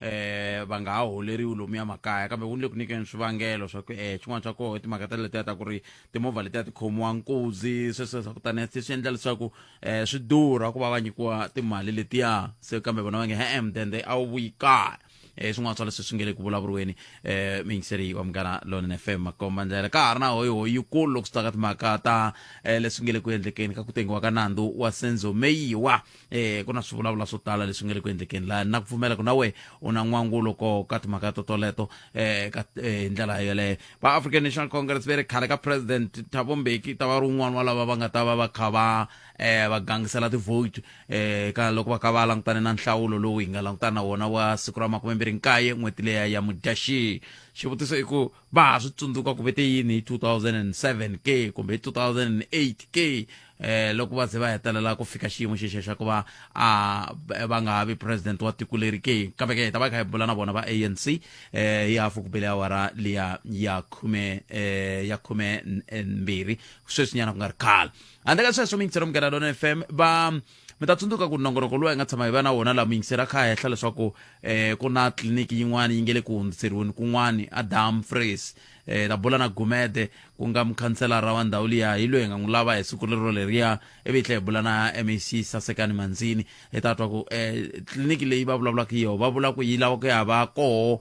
um va nga ha holeriwi lomuya makaya kambe wu ni le ku nyikeni swivangelo swa ku um xin'wana xa koho i timhaka ta letiya ta ku ri timovha letiya ti khomiwa nkuzi swesweswa kutani se swi endla leswaku um swi durha ku va va nyikiwa timali letiya se kambe vona va nge he-e mudende a wu vuyi kaya um swin'wana swa leswi swi nge le ku vulavuriweni um muyingiseri wa munghana lonene fm makomba ndlela ka ha ri na hoyihoyi yikulu loko swi ta ka timhaka ta um leswi nge le ku endlekeni ka ku tengiwa ka nandzu wa senzo meyiwa eh ku na swivulavula swo tala leswi nga le ku endlekeni laha na ku pfumela ku na we u na n'wangulo ko ka timhaka to toleto eh ka eh, hi ndlela yeleyo va african national congress ve ri khale ka president thabo mbeki ta va ri un'wana wa lava va nga ta va va kha va eh va gangisela tivote eh ka loko va kha va langutane na nhlawulo lowu hi nga langutana na wona wa siku ra makume mbirhi nkaye n'hweti leya ya mudyaxihi xivutiso i ku va ha swi tsundzuka ku vete yini hi 2007 ke kumbe hi 2008 ke eh loko va ze va hetelela ku fika xiyimo xexo xa ku va a va nga ha vi president wa tiko leri ke kambe ke hi ta va hi kha hi bula na vona va anc eh hi hafu ku bele awara liya ya khume eh ya khume n- eh, mbirhi sweswinyana ku nga ri khale handle ka sweswo mi yingisela munghana lona fm va mi ta tsundzuka ku nongonoko lowu hi nga tshama hi va na wona laha muyingiseri a kha a hehla leswaku um ku na tliliniki yin'wana yi nge le ku hundziseriweni kun'wani adam fres um eh, ta bula na gumede ku nga mukhanselara wa ndhawu liya hi loyi hi nga n'wi lava hi siku lero leriya ivi hi tlhe hi bula na mac sasekani mandzini hi ta twa ku um tliliniki leyi va vulavulaka hi yoho va vula ku yi lava ku ya va koho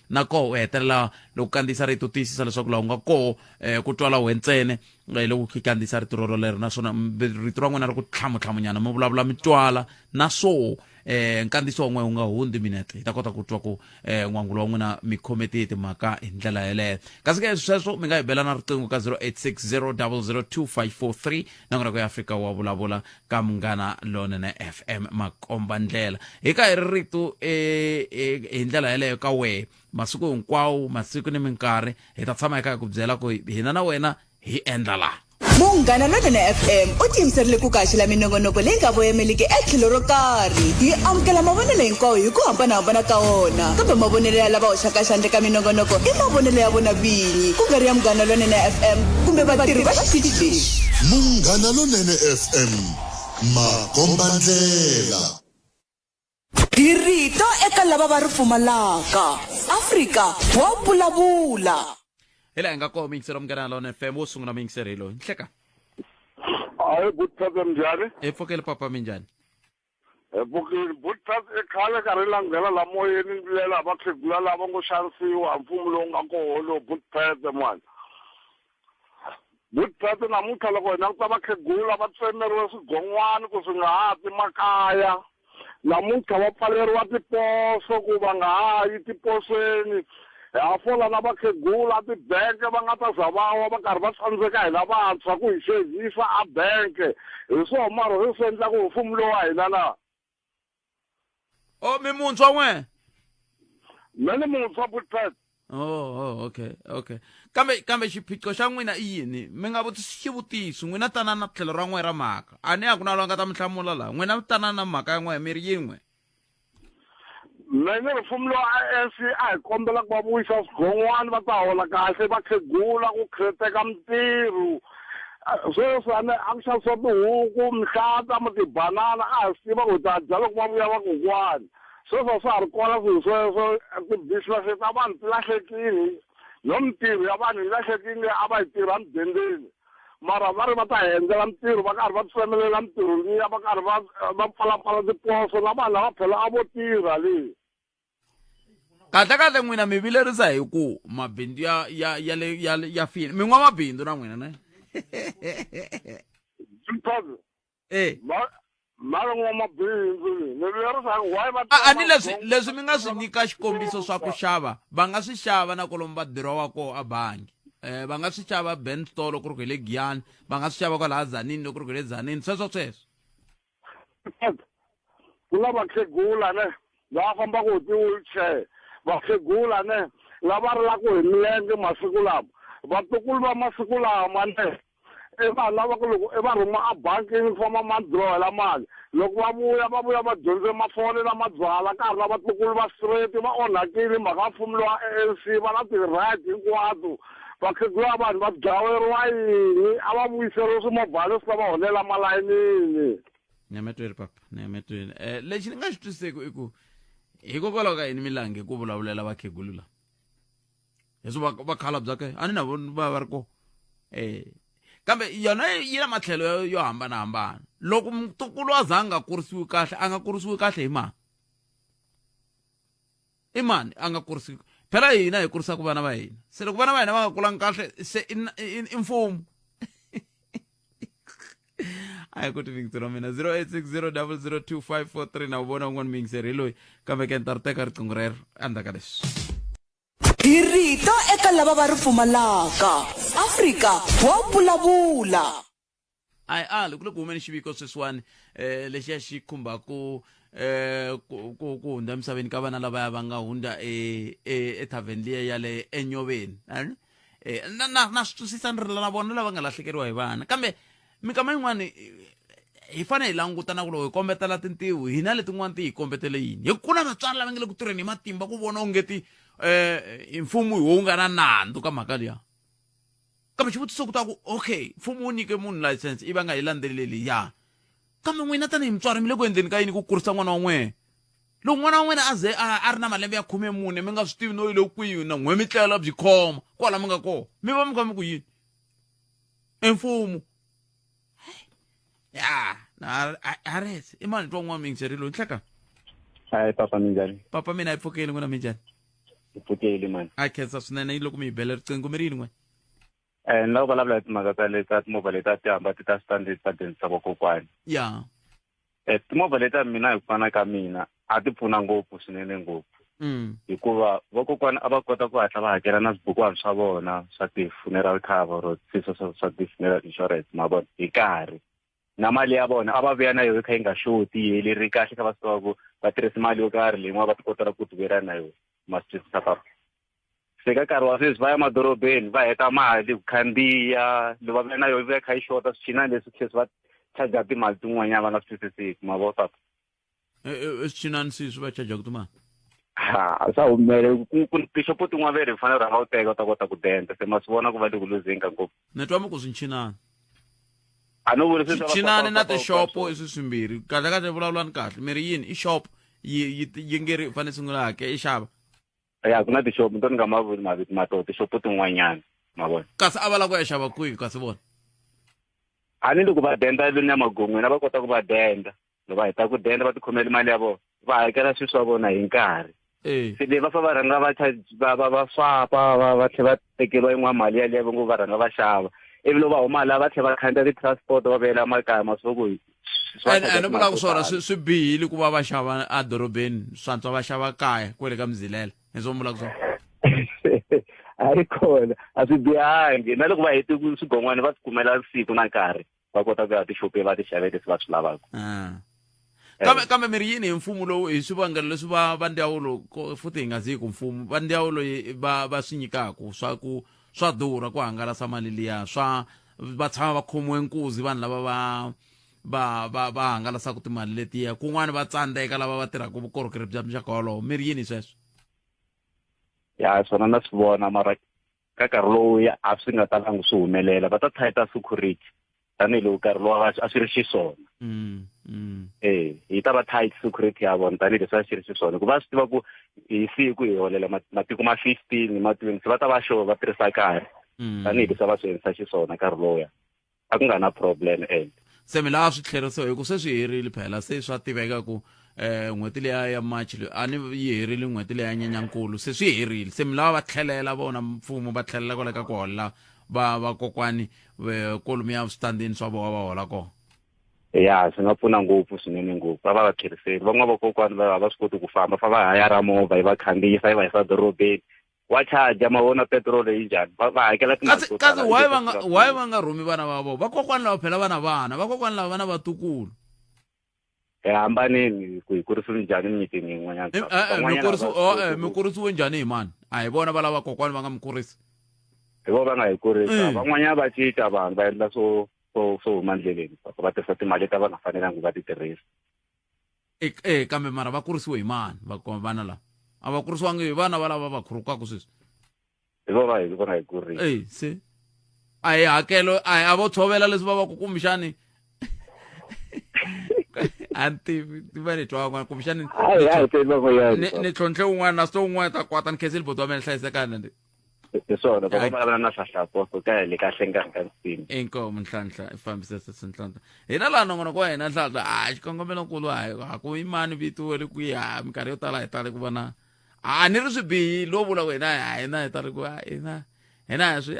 na koho u hetelela loko u kandziyisa rito u tiyisisa leswaku laha u nga koho um eh, ku twala we ntsene eh, loko ku kandziyisa rito roro lero naswona rito ra n'wina ri ku tlhamutlhamunyana mi vulavula mi twala na swo um nkandziyiso wa n'wina wu nga hundzi minete hi ta kota ku twa ku um n'wangulo wa n'wina mi khome tiye timhaka hi ndlela yeleyo kasi ke sweswo mi nga hi bela na riqingho ka 0860 002 543 na n'wina ku ya afrika wa vulavula ka munghana lonene fm makomba ndlela hi ka hi ri rito e, e, hi ndlela yeleyo ka wehe masiku hinkwawo masiku ni minkarhi hi ta tshama hi kha hi ku byela ku hina na wena hi endla laha munghana lonene fm u tiyimiserile ku kaxela minongonoko leyi nga voyameliki etlhelo ro karhi hi amukela mavonelo hinkwawo hi ku hambanahambana ka wona kambe mavonelo ya lava hoxaka xandle ka minongonoko i mavonelo ya vona vinyi ku nga ri ya munghana lonene fm kumbe vatirhi va xitichi lexi Munghana Lonene FM, makombandlela. Hi rito eka lava va ri pfumalaka. Afrika wa vulavula. hi laha hi nga koma yingiselo munghana lona fm wo sungula muyingiseri hi loyi nhleka Hi good problem njhani? hi pfukeli papa minjhani Bukeni byo ta i khale karhi i langhela la moyeni ni vilela hi vakhegula lava ngo xanisiwa mfumo lowu nga koho lowu Butphethe mwana Butphethe namuntlha loko hi languta vakhegula va tsemeriwe swigon'wani ku swi nga ha ti makaya namuntlha va pfaleriwa tiposo ku va nga ha yi tiposweni hi ha fola na vakhegula a tibanke va nga ta za va wa va karhi va tsandzeka hi lavantshwa ku hi xevisa a banke hi swo mara swi swi endlaku hi mfumo lowu wa hina na o mi muntshwa n'we me ni muntshwa butpet oh, oh okay okay kambe kambe xiphiqo xa n'wina i yini mi nga vutisi xivutiso n'wina tana na tlhelo ra n'we ra mhaka a ni ya ku na loyi a nga ta mi hlamula laha n'wina mi tana na mhaka ya n'we mi ri yin'we me ni ri mfumo lowa ANC a hi kombela ku va vuyisa swigon'wana va ta hola kahle vakhegula ku khreteka mintirho sweswi a ni a ku xavisiwa tihuku mihlata mo tibanana a hi swi tiva ku hi ta dya loko va vuya vakokwani sweswi a swa ha ri kona swilo sweswo ti-business ta vanhu ti lahlekile no mintirho ya vanhu yi lahlekile a va yi tirha mudendeni mara va ri va ta hendzela mintirho va karhi va tsemelela mintirho liya va karhi va va pfalapfala tiposo na vanhu lava phela a vo tirha leyi kahle kahle n'wina mi vilerisa hi ku mabindzu ya ya ya le ya ya fini mi n'wamabindzu na n'wina ne e a ni leswi leswi mi nga swi nyika xikombiso swa ku xava va nga swi xava na kolomu va dirowa koho a bangi um va nga swi xava ben store loko ri ku hi le giyani va nga swi xava kwalaha zanini loko ri ku hi le zanini sweswo sweswo ku na vakhegula ne lava fambaka hi ti-wheelchair vakhegula ne lava rilaka hi milenge masiku lama vatukulu va masiku lama ne i va lava ku loko i va rhuma a bangini ku famba ma drawela mali loko va vuya va vuya va dyondze mafole lama byala ka ha ri na vatukulu va straight va onhakile mhaka va pfumeliwa ANC va na ti-right hinkwato vakhegula vanhu va dlaweriwa yini a va vuyiseriwe swimovhana leswi ta va holela malayinini ni ya matweni papa ni ya matweni um eh, lexi ni nga xi twiseki i ku hikokwalaho ka yini milangi ku vulavulela vakhegulu lava leswi va va khala bya ke a ni na vona va va ri ko eh kambe yona yi na matlhelo yo hambanahambana loko mutukulu a za a nga kurisiwi kahle a nga kurisiwi kahle hi mani i mani a nga kurisiwi phela hina hi kurisaka vana va hina se loko vana va hina va nga kulanga kahle se i mfumo ayi kuti mingisi ra mina 0860002543 na wu vona un'wana mingisi ri loyi kambe ke ni ta ri teka riqingho rero endzhaku ka leswi hi rito eka lava va ri pfumalaka afrika wa vulavula ayi ali ku le ku humeni xiviko sweswiwani um lexiya xi khumbaku um ku ku- ku hundza emisaveni ka vana lavaya va nga hundza e- e- ethavheni liya ya le enyoveni a ni- e, na, na, na swi twisisa ni ri lana vona lava nga lahlekeriwa hi vana kambe minkama yin'wana hi fanele hi languta na ku loko hi kombetela tintiho hina letin'wana ti hi kombetele yini hi ku na vatswari lava nge le ku tirheni hi matimba ku vona onge ti um mfumo hi wowu nga na nandzu ka mhaka liya kambe xivutiso ku ta ku okay mfumo wu nyike munhu license i va nga yi landzeleli ya Kambe n'wina tanihi mutswari mi le ku endleni ka yini ku kurisa n'wana wa n'wina? Loko n'wana wa n'wina a ze a a ri na malembe ya khume-mune, mi nga swi tivi no yi le kwihi na n'we mi tlela byi khoma kwala mi nga kona, mi va mi kha mi ku yini? I mfumo. Ya, na a a rese i mani twa n'wa mi ngi loyi nhleka. Hi papa minjhani? Papa mina hi pfukeli n'wina minjhani? Hi pfukeli mani. A khensa swinene yi loko mi hi bela riqingho mi ri yini n'we? eh, ni lava vulavula hi timhaka ta le ta timovha leti a ti hamba ti ta switandi ti ta dyondzisa vakokwani ya eh, timovha leti a mina hi ku fana ka mina a ti pfuna ngopfu swinene ngopfu mm. hikuva vakokwani a va kota ku hatla va hakela na swibukwani swa vona swa ti-funeral cover or swiso swa ti-funeral insurance ma vona hi karhi na mali ya vona a va vuya na yona yi kha yi nga xoti yi heleri kahle kha va swi tiva ku va tirhisa mali yo karhi leyi n'wana va ti kotela ku tivela na yona masiku sa papa se ka nkarhi wa sweswi va ya madorobeni va heta mali ku khandziya lo va na yona ya kha yi xota swichinani leswi tlhesi va charger timali tin'wanyana va nga swi twisisiki ma vo swaku eh, eh, eh, swichinani swi swi va charger timali ha swa humele tixopo tin'wana ve ri hi fanele rhanga u teka u ta kota ku denda se ma swi vona ku va le ku luzinga ngopfu ni twa mi ku swinchinani a no vula swichinani na tixopo i swi swimbirhi kahle kahle vulavulani kahle mi ri yini i xopo yi yi yi nge ri fanele sungula hake i xava ya ku na tixopo to ni nga ma vuli mavito ma to tixopo tin'wanyana ma vona kasi a va lava ku ya xava kwihi kasi vona a ni loko va denda lweni ya magon'weni a va kota ku va denda loko va heta ku denda va tikhomela mali ya vona va hakela swilo swa vona hi nkarhi eh. se leyi va fa va rhanga va va va va swapa va va tlhe va tekeriwa yin'wana mali yaleyo va ngo va rhanga va xava ivi loko va huma laha va tlhe va khandziya ti-transport va vuyela makaya masiku ene vulaka swona swi swi bihile ku va va xava edorobeni swantswa va xava kaya kwele ka mizilela hi swo vulaka swona a yi kona a swi bihangi na loko va hete swigon'wana va swi kumela siku na nkarhi va kota ku ya tixope va ti xavele leswi va swi lavaka ah. eh. kambe kambe mi ri yini hi mfumo lowu hi swivangelo leswi va va ndyawulo futhi hi nga zi ku mfumo va ndyawulo va va swi nyikaku swa ku swa durha ku hangalasa mali liya swa va tshama va khomiwe nkuzi vanhu lava va va va va hangalasaka timali letiya kun'wana va tsandzeka lava va tirhaka vukorhokeri bya muxaka wolowo mi ri yini sweswo ya swona na swi vona mara ka nkarhi lowu a swi nga talangi swi humelela va ta thayita security tanihiloko nkarhi lowu a swi ri xiswona mm, mm. e eh, hi ta va tight security ya vona tanihileswi a swi ri xiswona hikuva a swi tiva ku hi siku hi holela matiko ma fifteen ma twenty va ta va sure va tirhisa nkarhi mm. tanihi leswi va swi endlisa xiswona nkarhi lowuya a ku nga na problem and se mi laha swi tlherisiwa hi ku se swi herile phela se swa tiveka ku eh n'hweti leya ya march leyi a ni yi herile n'hweti leya nyenyankulu se swi herile se mi lava va tlhelela vona mfumo va tlhelela kwale ka ku holela va vakokwani kolomu ya switandini swa vona va hola kona ya swi nga pfuna ngopfu swinene ngopfu va va va kheriseli van'wana vakokwani va va swi koti ku famba fa va hayara movha yi va khandziyisa yi va yisa dorobeni wa charge ma vona petiroli yi njhani va va hakela timali to tala why va nga why va nga rhumi vana va vona vakokwani lava phela vana vana vakokwani lava vana vatukulu hi eh, hambaneni ku hi kurisiwe njhani mimitini yin'wanyana eh, eh, mi kurisiwe njhani hi mani a hi vona va lava kokwani va nga mi kurisi hi vo va nga hi kurisa mm. van'wanyana va cinca vanhu va endla swo swo swo huma ndleleni swa ku va tirhisa timali ta va nga fanelanga va ti tirhisa e e kambe mara va kurisiwe hi mani vana lava a va kurisiwangi hi vana va lava va khurukaka sweswi hi vona hi vona hi kurile e se a hi hakelo a hi a vo tshovela leswi va va ku kumbexani a ni tivi ti va ni twa n'wana kumbexani ni tlhontlhe un'wana na sito un'wana ta kwata ni khensile boti wa mina hlayisekana hi swona va va vulavula na nhlahla apostle ka le ka hlengani ka nsimu inkomu nhlahla i fambise sesi nhlahla hina laha nongonoko wa hina nhlahla a xikongomelo nkulu a ha ku imani vito we ri kwiha minkarhi yo tala hi tale ku vona a ni ri swibihi lo vula wena a hina hi tale ku a hina hina hi swi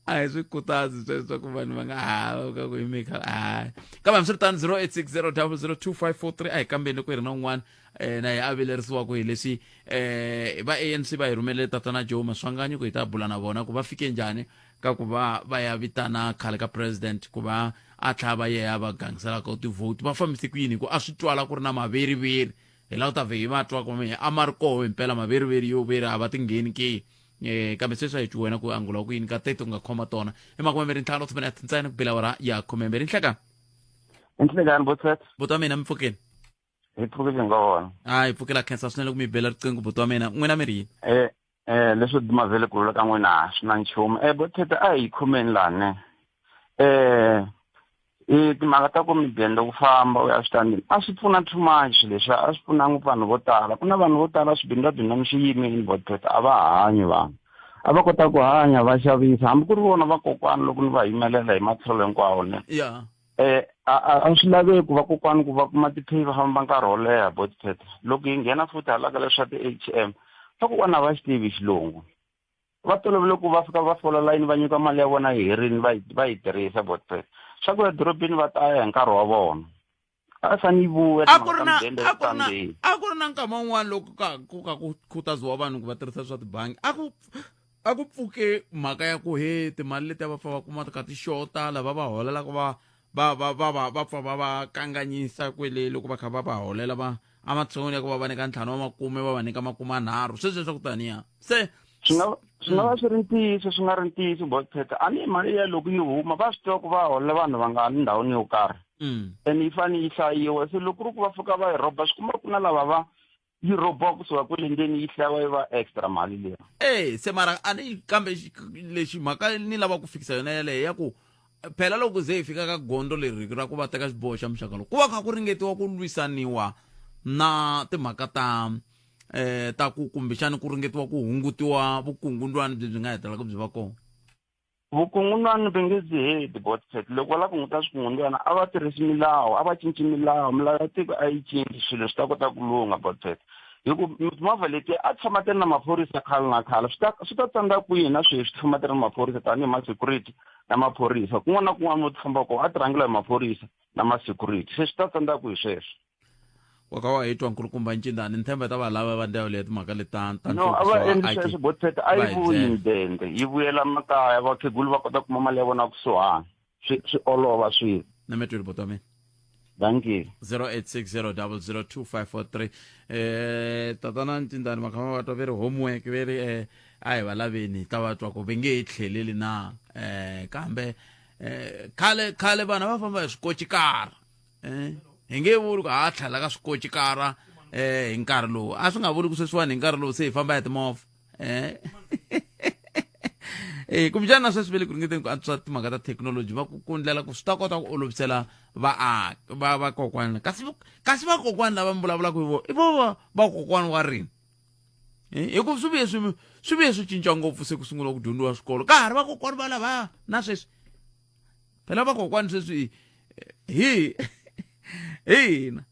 a hi swi khutazi sweswo swa ku vanhu va nga hava ka ku hi mika hayi kambe hambiswiritano 0860002543 a hi kambeni ku hi ri na un'wana um na hi avilerisiwaka hi leswi um va anc va hi rhumelele tatana joe maswanganyi ku hi ta bula na vona ku va fike njhani ka ku va va ya vitana khale ka president ku va a tlhaya va yeya va gangiselaka u tivhoti va fambise ku yini hi ku a swi twala ku ri na maveriveri hi la ku ta vhe hi va twa ku a ma ri koho himpela maveriveri yo veri a va ti ngheni ke eh kambe sweswi a hi wena ku angula ku yini ka tete u nga khoma tona i makumemberi ntlhanu tshumene a thintsani ku bela wara ya khumemberi nhleka nhlekani buti wethu buti wa mina mi pfukeni hi pfukile nga wona a hi pfukela khensa swinene ku mi bela riqingho buti wa mina n'wina mi ri yini eh eh leswo dumazele ku lula ka n'wina swi na nchumu eh buti tete a hi khomeni lani eh E timhaka ta ku midende ku famba u ya switandini a swi pfuna too much leswi a swi pfuna ngopfu vanhu vo tala ku na vanhu vo tala swibini va bindani swi yime in botpet a va hanyi vanhu a va kota ku hanya va xavisa hambi ku ri vona vakokwana loko ni va yimelela hi matlhelo hinkwawo ne ya eh a a- a swi laveki ku vakokwana ku va kuma tipheyi va famba nkarhi wo leha botpet loko yi nghena futhi hala ka leswa ti-atm vakokwana a va xi tivi xilungu va tolovele ku va fika va fola layini va nyika mali ya vona yi herini va yi- va yi tirhisa but eh, swa ku ya dorobeni va ta ya hi nkarhi wa vona a yi fane yi vuya a ku ri na timhaka ta mudende a ku ri na Sunday. a ku ri na nkama wun'wana loko ka ku ka ku khutaziwa vanhu ku va tirhisa swa tibangi a ku a ku pfuke mhaka ya ku he timali leti a va fa va kuma ka tixota lava va holelaka va va va va va va pfa va va kanganyisa kwele loko va kha va va holela va ematshan'weni ya ku va va nyika ntlhanu wa makume va va nyika makume anharhu sweswi leswaku taniya se swi nga swi nga va hmm. swi ri ntiyiso swi nga ri ntiyiso bospeta a ni mali ya loko yi huma va swi tiva ku va holela vanhu va nga ni ndhawini yo karhi hmm. and yi fanele yi hlayiwa se loko ku ri ku va fika va yi rhoba swi kuma ku na lava va yi rhobiwa kusuka kwele ndzeni yi hlayiwa yi va extra mali leyi e se mara a ni kambe lexi mhaka ni lava ku fikisa yona yaleyo ya ku phela loko ze hi fika ka gondo leri ra ku va teka xiboho xa muxaka lowu ku va kha ku ringetiwa ku lwisaniwa na timhaka ta eh ta ku kumbexani ku ringetiwa ku hungutiwa vukungundwani byi byi nga hetelaka byi va kona vukungundzwani va nge byi heti botset loko va lava ku hunguta swikungundzwana a va tirhisi milawu a va cinci milawu milawu ya tiko a yi cinci swilo swi ta kota ku lungha botset hi ku mimovha leti a tshama ti ri na maphorisa khale na khale swi ta swi ta tsandza kwihi na sweswi ti famba ti ri na maphorisa tanihi ma-security na maphorisa kun'wana na kun'wana mo ti famba kona a ti rhangela hi maphorisa na ma-security se swi ta tsandza kwihi sweswo wakawa hitwa nkulukumba ncindani ni themba ta valava va ndhawu leyi timhaka leti ta ta no a va nhluvukiso wa endlisa IT. leswi botfet a Va yi hi vuyi byela. mudende yi vuyela makaya vakhegulu va kota ku kuma mali ya vona kusuhana swi swi olova swilo na metweli bota mina dankie 0860002543 eh tatana ntindani makhama va twa ve ri homework ve ri eh a hi va laveni hi ta va twa ku ve nge hi tlheleli na eh kambe eh khale khale vana va famba hi swikochikara eh, hi nge vuli ku ha tlhela ka swikoci kara eh hi nkarhi lowu a swi nga vuli ku sweswiwani hi nkarhi lowu se hi famba ya timovha eh eh kumbexana sweswi ve le ku ringeteni ku antswisa timhaka ta thekinoloji va ku kundlela ku swi ta kota ku olovisela vaaki va vakokwana kasi kasi vakokwana lava mi vulavulaka hi vona i vo vakokwana wa rini eh, hi ku swi vuye swi swi vuye swi cinca ngopfu se ku sungula ku dyondziwa swikolo ka ha ri vakokwana va lavaya na sweswi phela vakokwani sweswi hi hina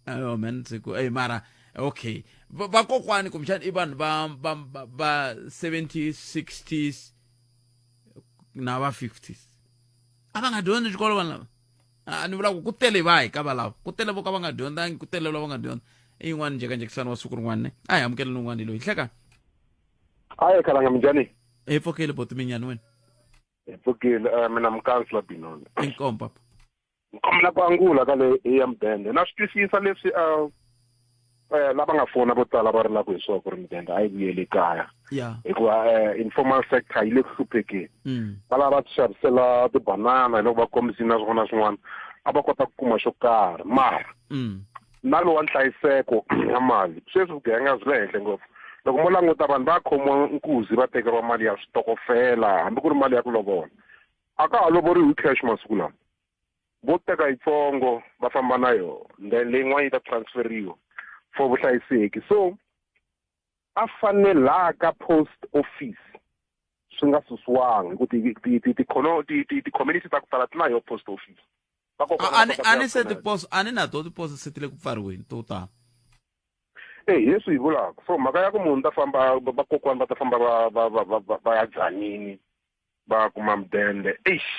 ayo man siku ey mara okay Va- vakokwani kumbexana i vanhu va va va- va 70s 60s na va 50s a va nga dyondzi xikolo vanhu lava a ni vula ku ku tele vahi ka valava ku tele vo ka va nga dyondzangi ku tele lava va nga dyondza i yin'wana njhekanjhekisano wa siku rin'wana ne a hi amukeleni un'wana hi loyi hleka Hi, Kalanga Mjani. Hi pfukile boti minyani wena. Hi pfukile uh, mina mukansla Binoni. Inkomo papa. Nkomo ku angula ka le ya mudende. Na swi twisisa leswi uh, eh lava nga fona vo tala va ri la ku hi swa ku ri mudende a yi vuyeli kaya hikuva eh informal sector yi le ku hluphekeni mm. va lava va xavisela tibanana hi loko va kombisini na swin'wana na swin'wana a va kota ku kuma xo karhi mara mm. na lowa nhlayiseko ya mali sweswi vugevenga byi le henhla ngopfu loko mo languta vanhu va khomiwa nkuzi va tekeriwa mali ya switokofela hambi ku ri mali ya ku lovola a ka ha lovoriwi hi cash masiku lama vo teka yitsongo va famba na yona then leyin'wana yi ta transferiwa for vuhlayiseki so a fanelaka post office swi nga susiwangi ku ti-community ta ku tala ti na yo post office a ni se tiposo a ni na to tiposo se ti le ku pfariweni to tala e hi leswi hi vulaka so mhaka ya ku munhu ta famba vakokwana va ta famba va va va va va ya dzanini va kuma mudende eish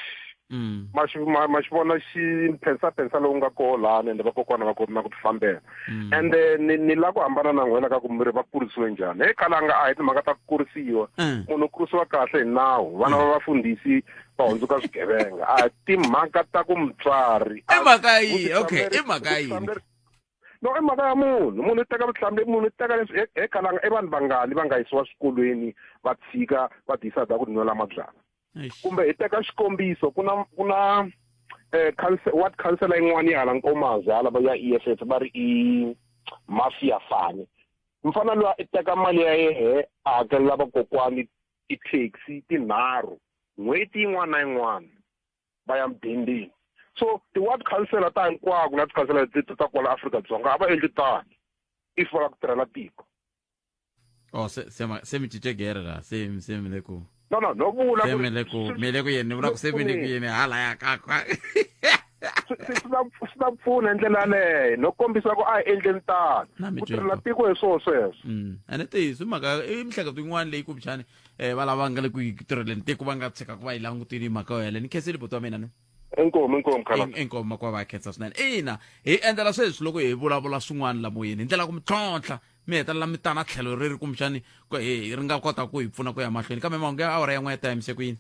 mm. ma xi ma, ma xi vona xi phensa phensa lowu nga koho lani ende vakokwana va koti na ku tifambela mm. ende ni, ni la ku hambana na n'wina ka ku miri va kurisiwe njhani he kalanga a hi timhaka ta ku kurisiwa mm. munhu u kurisiwa kahle hi nawu vana va vafundhisi va hundzuka swigevenga a hi timhaka ta ku mutswari i mhaka yihi okay i mhaka yini no i mhaka ya munhu munhu i teka vuhlamuleri munhu i teka leswi he khalanga i vanhu vangani va nga yisiwa swikolweni va tshika va tiyisa dya ku tinwela mabyala kumbe hi teka xikombiso ku na ku na um ward councela yin'wana yi hala nkomazi hala va ya e f f va ri i mafia fane mfana loyi i teka mali ya yehe a hakelela vakokwani ti-taxi tinharhu n'hweti yin'wana na yin'wana va ya mudendeni so ti-ward councilor ta hinkwako na ti-councilor leti ta kwala afrika-dzonga a va endli tano if va lava ku tirhela tiko oh se se ma se mi cince gere la se se mi le ku no no no vula se mi le ku mi le ku yini ni vula ku se mi le ku yini hala ya ka ka swi ta pfuna hi ndlela yaleyo no kombisa ku a hi endleni tano ku tirhela tiko hi swona sweswo mm. ene tihi swi mhaka i miehleketo yin'wana leyi kumbexani eh va lava nga le ku tirheleni tiko va nga tshika ku va yi langutini hi mhaka yo yeleyo ni khenseli buti wa mina ni inkomu inkomu khalati In- inkomu makuva va ya khensa swinene ina hi endlela sweswi loko hi vulavula swin'wana la moyeni hi ndlela ya ku mi tlhontlha mi hetelela mi tana tlhelo ri ri kumbexani ku- hi hi ri nga kota ku hi pfuna ku ya mahlweni kambe mahungu ya awara yan'we ya ta yimise ku yini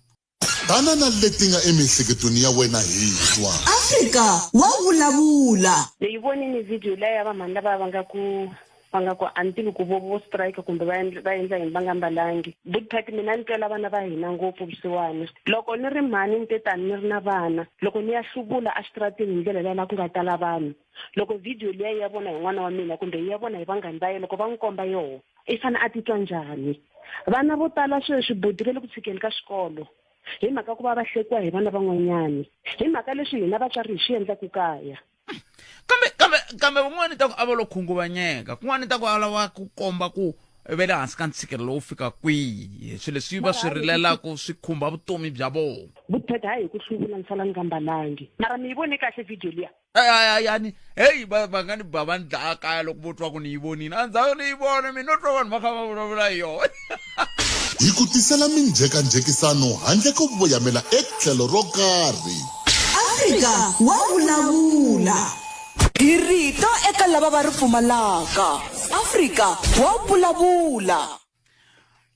Tana na leti nga emiehleketweni ya wena hi twa. Afrika wa vulavula! Ni yi vonini video liya ya va mhani lavaya va nga ku va nga ku a ni tivi ku vo vo strike kumbe va endla va endla yini va nga mbalangi big party mina ni twela vana va hina ngopfu vusiwana loko ni ri mhani ni te tani ni ri na vana loko ni ya hluvula exitarateni hi ndlela liya laha ku nga tala vanhu loko video liya yi ya vona hi n'wana wa mina kumbe yi ya vona hi vanghani va ye loko va n'wi komba yoho i fanele a titwa njhani vana vo tala sweswi budi va le ku tshikeni ka xikolo hi mhaka ku va va hlekiwa hi vana van'wanyani hi mhaka leswi hina vatswari hi swi endlaku kaya kambe kambe kambe van'wana ta ku a va lo khunguvanyeka kun'wana ta ku a lava ku komba ku ve le hansi ka ntshikelelo wo fika kwihi swilo leswi va swi rilelaku swi khumba vutomi bya vona vutheta hi ku hluvula ni sala ni nga mbalangi mara mi yi vone kahle video liya yani heyi va va nga ni ba va ni dlaya kaya loko vo twa ku ni yi vonile a ndzaku ni yi vona mina no twa vanhu va kha va vulavula hi yona hi ku tisela minjhekanjhekisano handle ko voyamela etlhelo ro karhi afrika wa vulavula hi rito eka lava va ri pfumalaka afrika wa vulavula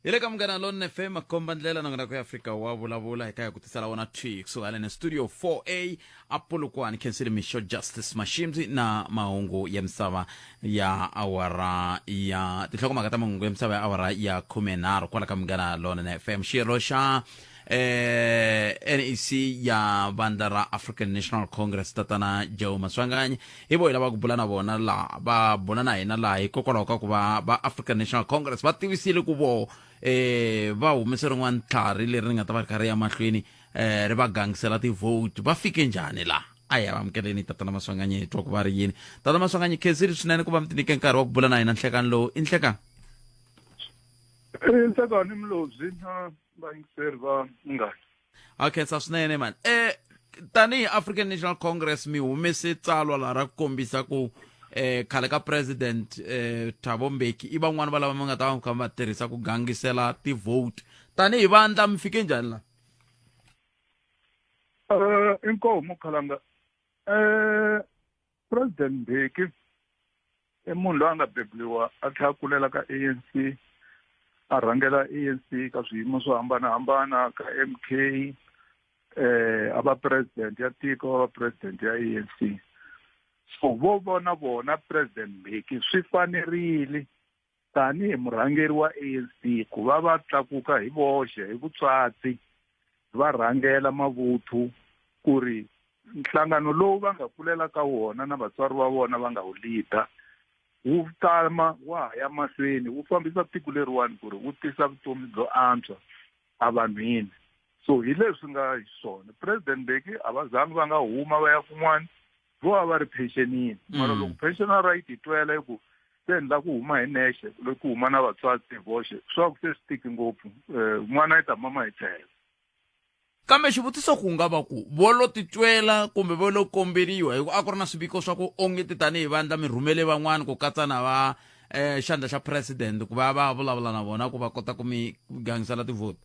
hi le ka munghana lone fm makomba ndlela nongonoko ya afrika wa vulavula hi ka ya ku tisala wona twi kusuhana ne studio 4a apolokwane khensile mixo justice mashimzi na mahungu ya misava ya awara ya tinhlokomhaka ta mahungu ya misava ya awara ya khumenharhu kwala ka munghana lone fm xirho xa eh, nec ya vandla ra african national congress tatana joe maswanganyi hi vo hi lava ku bula na vona laha va bula na hina laha hikokwalaho ka ku va va african national congress va tivisile ku voho eh, va humese rin'wana tlhari leri ri nga ta va ri kha ri ya mahlweni eh, ri va gangisela ti-vote va fike njhani laha a hi avamukeleni tatana maswanganyi hi twa ku va ri yini tatana maswanganyi khensiri swinene ku va mi tinike nkarhi wa ku bula na hina nhlekani lowu i nhlekani nhlekani mlobyi va yingiseri va munghana a khensa swinene mani um tanihi african national congress mi humese tsalwa laha ra ku kombisa ku um khale ka president um thabo mbeki i van'wani va lava mi nga ta va kha va tirhisa ku gangisela ti-vote tanihi vandla mi fike njhani laha um inkomo khalanga um president mbeki i munhu loyi a nga bebuliwa a tlhela a kulela ka anc a rhangela anc ka swiyimo swo hambanahambana ka m k um eh, a va president ya tiko a va president ya anc so vo vona vona president mbeki swi fanerile tanihi murhangeri wa anc ku va va tlakuka hi voxe hi vutswatsi va rhangela mavuthu ku ri nhlangano lowu va nga kulela ka wona na vatswari va vona va nga wu leader wu tama wa ha ya mahlweni wu fambisa tiko leriwani ku ri wu tisa vutomi byo antswa evanhwini so hi leswi nga hi swona president beki a va zangi va nga huma va ya kun'wana vo va va ri pensionini mara loko pensional right yi twela yi ku se ni la ku huma hi nexe loko ku huma na vatswari hi voxe swa ku se swi tiki ngopfu um n'wana yi ta mama hi tlhela kambe xivutiso ku nga va ku vo lo titwela kumbe vo lo komberiwa hi ku a ku ri na swiviko swa ku onge ti tanihi vandla mi rhumele van'wana ku katsa na va um xandla xa president ku va va vulavula na vona ku va kota ku mi gangisela tivhoti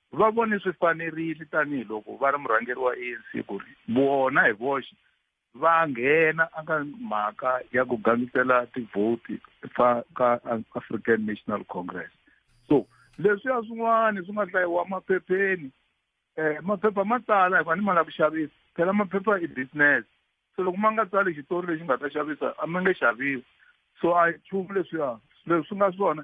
va vone swi fanerile tanihi loko va ri murhangeri wa ANC ku ri vona hi voxe va nghena aka mhaka ya ku gangisela tivhoti fa ka African National Congress so leswiya swin'wana swi nga hlayiwa maphepheni eh maphepha ma tsala hi fanele ma lava ku xavisa phela maphepha i business so loko ma nga tsali xitori lexi nga ta xavisa a ma nge xaviwi so a hi nchumu leswiya leswi swi nga swona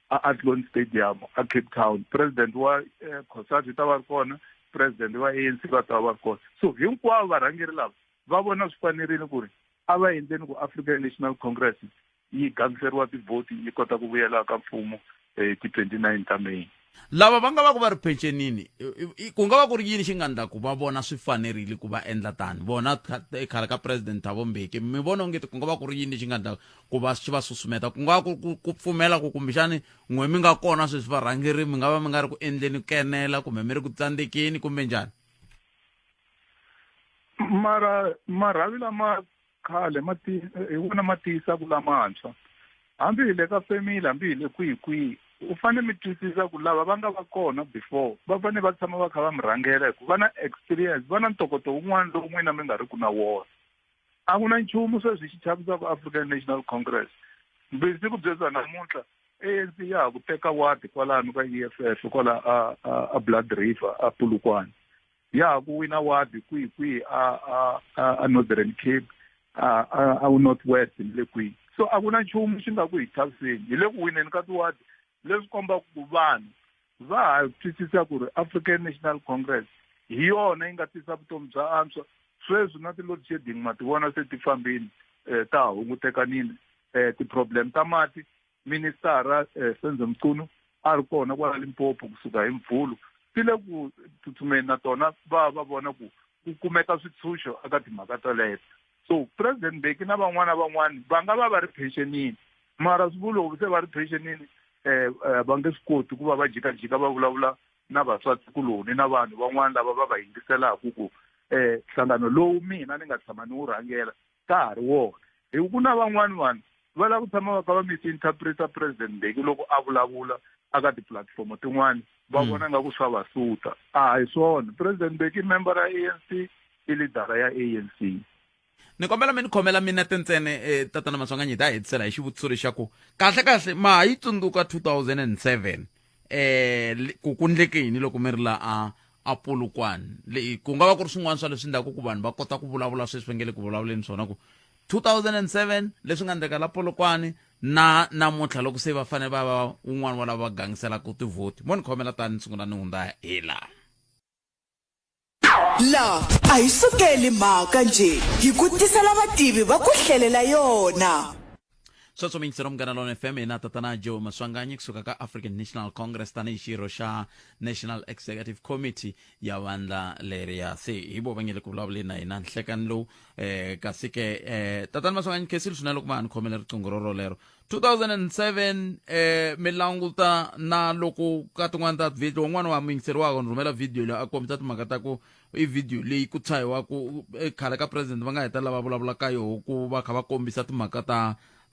a Athlone Stadium a Cape Town president wa eh, Cosatu u ta va ri kona president wa ANC va ta va ri kona so hinkwavo varhangeri lava va vona swi fanerile ku ri a va endleni ku African National Congress yi gangiseriwa tivhoti yi kota ku vuyela ka mfumo eh, ti 29 ta May lava va nga va ku va ri phenxenini ku nga va ku ri yini xi nga ndla ku va vona swi fanerile ku va endla tani vona khale ka president thabo mbeki mi vona ongeti ku nga va ku ri yini lexi nga ndla ku va swi va susumeta ku nga ku ku, ku pfumela ku kumbexani n'we mi nga kona sweswi varhangeri mi nga va mi nga ri ku endleni ku kenela kumbe mi ri ku tsandzekeni kumbe njhani mara marhavi lama khale ma ti hi wona ma tiyisaku lamantshwa hambi hi le ka family hambi hi le kwihi kwihi u fane mi twisisa ku lava va nga va kona before va fane va tshama va kha va mi rhangela hi ku va na experience va na ntokoto wun'wana lowu n'wina mi nga ri ku na wona a ku na nchumu sweswi xi chavisaka african national congress mbisi ku byeza namuntlha anc ya ha ku teka wadi kwalano ka e f f kwala a a a blood river a pulukwane ya ha ku wina wadi kwihi kwihi a a a- a northern cape a a a wu north west ni le kwihi so a ku na nchumu xi nga ku hi chaviseni hi le ku wineni ka tiwadi leswi kombaka ku vanhu va ha twisisa ku ri African National Congress hi yona yi nga tisa vutomi bya antswa sweswi na ti-load shedding ma ti vona se ti fambini um ta hungutekanini um ti-problem ta mati ministara um senze mchunu a ri kona kwala limpopo kusuka hi mvhulu ti le ku tsutsumeni na tona va va vona ku ku kumeka switshunxo eka timhaka toleto so president beki na van'wana van'wana va nga va va ri pensionini mara swi vulovi se va ri pensionini eh, eh, va nge swi koti ku va va jikajika va vulavula na vaswati kuloni na vanhu van'wana lava va va yingiselaka ku um nhlangano lowu mina ni nga tshama ni wu rhangela ka ha ri wona hi ku na van'wana vanhu va lava ku tshama va ka va misinterpreta president mbeki loko a vulavula aka tipulatifomo tin'wana va hmm. vona nga ku swa va suta a hi swona president mbeki i member ya a n c i lidara ya a n c ni kombela mi ni khomela mina tintsene um eh, tatana maswanganyi ta hetisela hi xivutiso lexaku kahle kahle ma ha yi tsundzuka 2007 um eh, ku ku ndleke yini loko mi ri la a a polokwane ku nga va ku ri swin'wana swa leswi ndlaku ku vanhu va kota ku vulavula sweswi va nge le ku vulavuleni swona ku 2007 leswi nga endleka la polokwane na namuntlha loko se va fanele va va un'wana wa lava va gangiselaka tivhoti mo ni khomela tani ni sungula ni hundza hi laha la a hi sukeli mhaka nje hi ku tisela vativi va ku hlelela yona sweswo mingisero munghana lona fm hina tatana joe maswanganyi kusuka ka african national congress tanihi xirho xa national executive committee ya vandla leriya se hi vo va nge le ku vulavuleni na hina nhlekani lowu eh kasi ke eh tatani maswanganyi khesili swinene loko va ni khomela riqingho ro rolero 2007 eh mi languta na loko ka tin'wana ta video un'wana wa muyingiseri wako ni rhumela video leyi a kombisa timhaka ta ku i video leyi ku tshahiwaku eh, khale ka president va nga heta lava vulavula ka yoho ku va kha va kombisa timhaka ta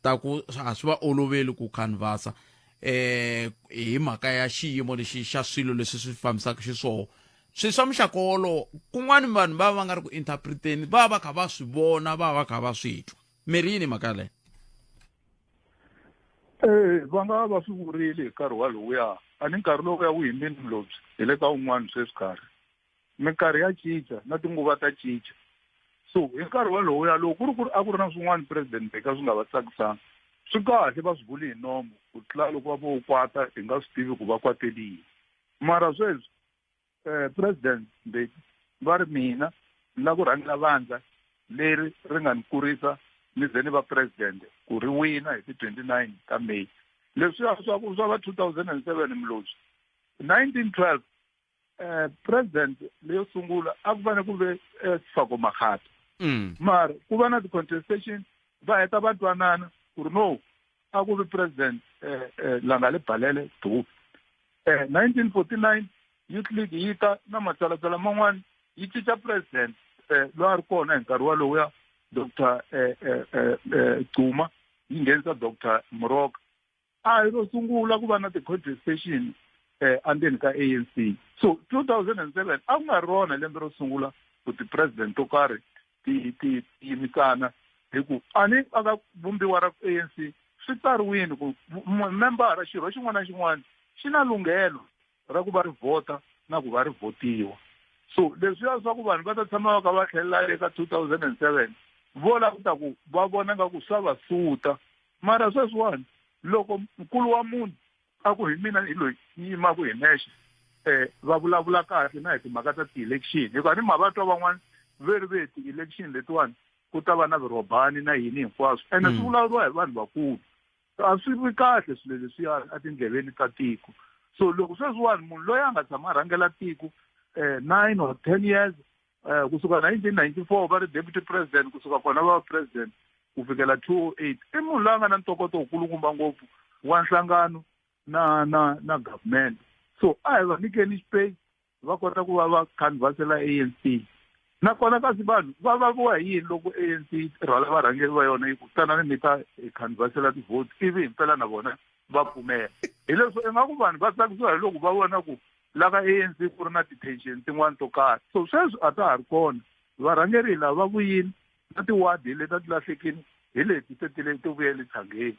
ta ku a swi va oloveli ku canvasa eh hi mhaka ya xiyimo lexi xa swilo leswi swi fambisaka xiswoho swilo swa muxaka wolowo kun'wana vanhu va va va nga ri ku interpreteni va va va kha va swi vona va va va kha va swi twa mi ri yini mhaka leyo ee va nga va va swi vurile hi nkarhi walowuya a ni nkarhi lowuya wu yimbini mulobyi hi le ka un'wana sweswi karhi minkarhi ya cinca na tinguva ta cinca so hi nkarhi walowuya loko ku ri ku ri a ku ri na swin'wana president beka swi nga va tsakisanga swi kahle va swi vuli hi nomo ku tlula loko va vo kwata hi nga swi tivi ku va kwateliyi mara sweswi eh, president mbeki va ri mina ni la ku rhangela vandla leri ri nga ni kurisa ni ze ni va president ku ri wina hi ti-twenty nine ta may leswiya swa ku swa va two thousand and seven mloswi nineteen twelve um president leyo sungula a ku fane ku ve eh, sifako makhata mm. mara ku va na ti-contestation va heta va twanana ku ri no a ku ri president eh, eh, langale balele dubi eh, 1949 youth league yi ta na matsalatsala man'wana yi cinca president eh, loyi a ri kona hi nkarhi walowuya doctor eh, eh, eh, eh, cuma yi nghenisa doctor muroka a hi ro sungula ku va na ti-contestation eh, andzeni ka a n c so 2007 a ku nga rona lembe ro sungula ku ti-president to karhi ti ti yimisana hi ku a ni a ka vumbiwa ra ANC swi tsariwini ku membara xirho xin'wana na xin'wana xi na lunghelo ra ku va ri vhota na ku va ri vhotiwa so leswiya swa ku vanhu va ta tshama va ka va tlhelela le ka two thousand and seven vo la ku ta ku va vona nga ku swa va suta mara sweswiwani loko nkulu wa munhu a ku hi mina hi loyi ni yimaku hi nexe um va vulavula kahle na hi timhaka ta ti-election hikuva ni ma va twa van'wana ve ri ve ti-election letiwani ku ta va na virhobani na yini hinkwaswo ene swi mm. vulavuriwa hi vanhu vakulu a swi vi kahle swilo leswiya etindleveni ta tiko so loko sweswiwani munhu loyi a nga tshama a rhangela tiko um nine or ten years eh, kusuka 1994 va ri deputy president kusuka kona va va president ku fikela 208 i munhu loyi a nga na ntokoto wukulukumba ngopfu wa nhlangano na na na government so a hi va nyikeni space va kota ku va va canvasela a n c nakona kasi vanhu va vaviwa hi yini loko a n c rhwala varhangeri va yona yi ku tanani mi ta hi canvasela tivhoti ivi hi mpela na vona va pfumela hileswo ingaku vanhu va tsakisiwa hi loko va vona ku la ka anc ku ri na ti-tension tin'wani to karhi so sweswi a ta ha ri kona varhangeri hi lava va vuyini na ti-ward hi leti a ti lahlekini hi leti se ti le ti vuye le tshangeni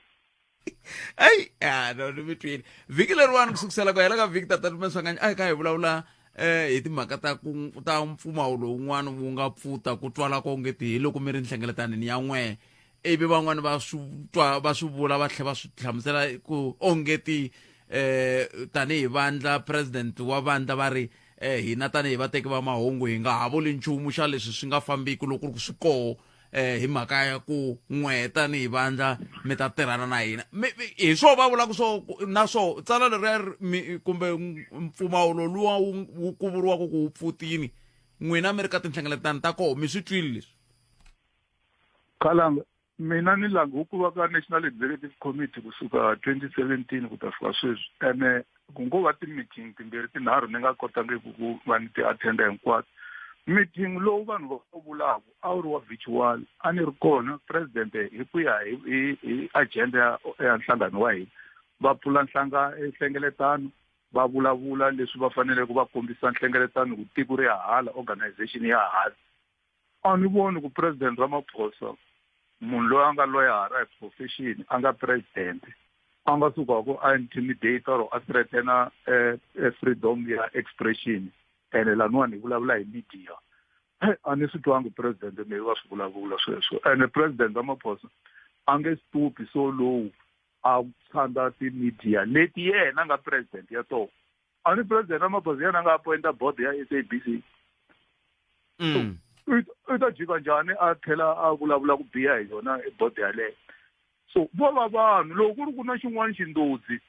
eyi a no ni mi twile vhiki leriwani ku sukusela ku hela ka vhiki tata lumaswanganya a hi ka hi vulavula um hi timhaka ta ku ta mpfumawu lowun'wana wu nga pfuta ku twala ko nge ti hi loko mi ri nhlengeletani ni ya n'we ivi van'wani va swi twa va swi vula va tlhela va swi hlamusela ku ongeti eh tanihi vandla president wa vandla va ri eh hina tanihi vateki va mahungu hi nga ha vuli nchumu xa leswi swi nga fambiki loko ku swi koho eh hi mhaka ya ku n'we tanihi vandla mi ta tirhana na hina hi swo va vulaka swo na swo tsala leriya kumbe mpfumawulo luwa wu ku vuriwaka ku wu pfutini n'wina mi ri ka tinhlengeletano ta koho mi swi twile leswi Khalanga mina ni lange ku va ka National Executive Committee kusuka 2017 ku ta fika sweswi ene ku ngo va ti-meeting timbirhi tinharhu ni nga kotangiki ku va ni ti-attenda hinkwato meeting lowu vanhu va wu vulaka a wu ri wa virtual a ni ri kona president hi ku ya hi hi hi agenda ya ya nhlangano wa hina va pfula nhlanga nhlengeletano va vulavula leswi va faneleke va kombisa nhlengeletano ku tiko ri ya hala organization ya hala a ni voni ku president ramaphosa munhu loyi a nga loyara hi profession a nga president a nga sukaku a intimidate or a threatena eh, eh, freedom ya expression ene laniwa ni vulavula hi media a ni swi twangi president meyi wa swi vulavula sweswo ene president ramaphosa a nge stupi so lowu a tshanda ti-media leti yena nga president ya tona a ni president ramaphosa yena a nga appointa board ya s a b c mm. u ta jika njhani a tlhela a vulavula ku biha hi yona board yaleyo so vo va vanhu loko ku ri ku na xin'wana xindodzi